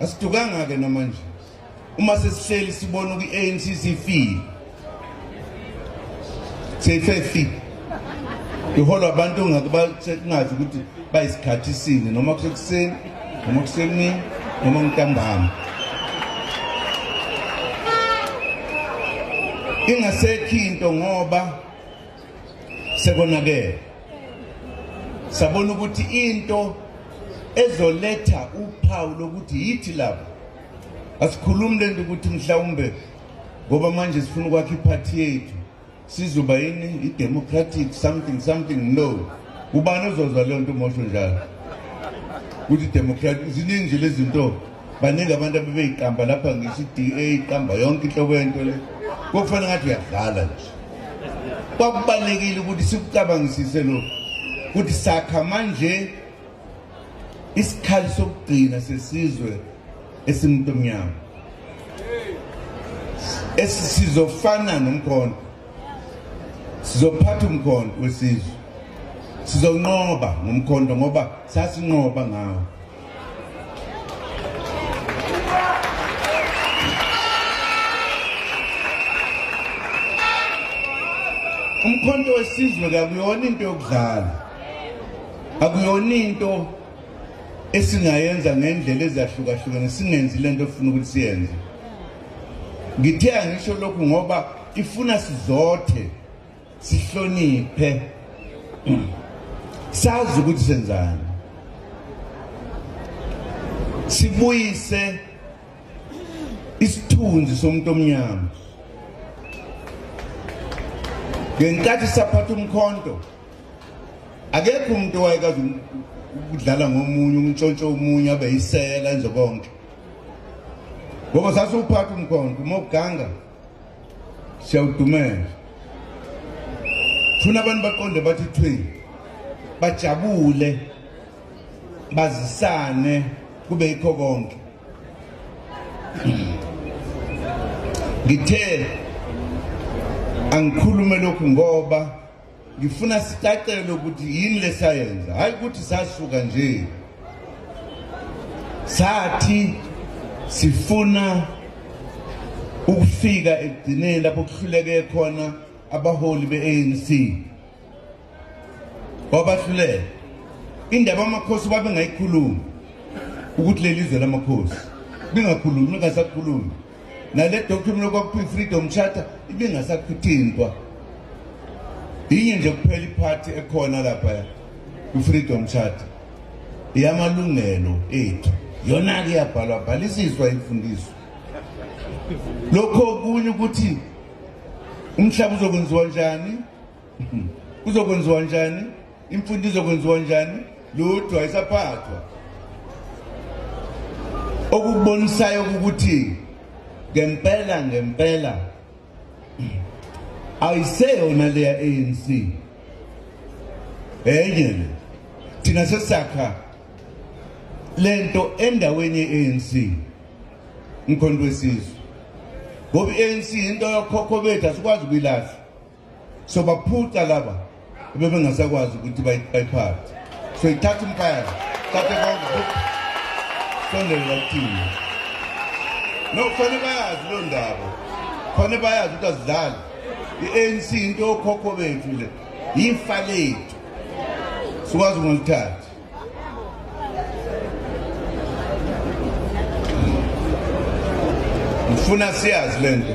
asidukanga-ke namanje uma sesihleli sibona kwi-anc sifile seyifefile iholwa abantu kungazi ukuthi bayisikhathi sini noma kusekuseni noma kusemini noma ntambama ingasekho into ngoba sekonakele sabona ukuthi into ezoletha uphawu lokuthi yithi labo asikhulumi le nto ukuthi mhlawumbe ngoba manje sifuna ukwakha iphathi yethu sizoba yini i-democratic something something no ubani ozozwa leyo nto mosho njalo ukuthi democratic ziningi nje lezi nto baningi abantu abebeyiqamba lapha ngisho i-DA iqamba yonke inhlobo yento le kokufana ngathi uyadlala nje kwakubalekile ukuthi sikucabangisise lo ukuthi sakha manje isikhali sokugcina sesizwe esimuntu omnyama esizofana nomkhondo sizophatha umkhondo wesizwe sizonqoba ngomkhondo ngoba sasinqoba ngawo umkhonto wesizwe kakuyona into yokudlala akuyona into esingayenza ngendlela ezahlukahlukene singenzi lento ofuna ukuthi siyenze ngithe angisho lokhu ngoba ifuna sizothe sihloniphe sazi ukuthi senzani sibuyise isithunzi somuntu omnyama ngenkathi saphatha umkhonto akekho umuntu owayekazi ukudlala ngomunye umntshontsho omunye abe yisela enze konke ngoba sasiwuphatha umkhonto uma uganga siyawudumela funa abantu baqonde bathi thwi bajabule bazisane kube yikho konke ngithe angikhulume lokhu ngoba Ngifuna sicacele ukuthi yini lesayenza, hayi ukuthi sasuka nje. Sathi sifuna ukufika ekugcineni lapho kuhluleke khona abaholi be-ANC wabahluleka indaba amakhosi babengayikhulumi ukuthi leli zwe lamakhosi lingakhulumi lingasakhulumi nale document okwakuthiwa i-freedom charter ibingasakuthintwa yinye nje kuphela iphathi ekhona lapha kwi-freedom charter iyamalungelo ethu yona-ke iyabhalwa bhalisiswa imfundiso lokho okunye ukuthi umhlaba uzokwenziwa njani kuzokwenziwa njani imfundo izokwenziwa njani lutho ayisaphathwa okubonisayo ukuthi ngempela ngempela ayiseyona leya ANC enye le thina sesakha lento endaweni ye-ANC umkhonto wesizwe ngoba i-ANC into yokhokho bethu asikwazi ukuyilahla so baphuca laba bebengasakwazi ukuthi bayiphathe so ithatha impaya thathe konke sondelela kuthini no kufanele bayazi loo ndaba kufanele bayazi ukuthi azidlali i-anc into yokhokho bethu le yifa lethu sikwazi ukungaluthathi ngifuna siyazi le nto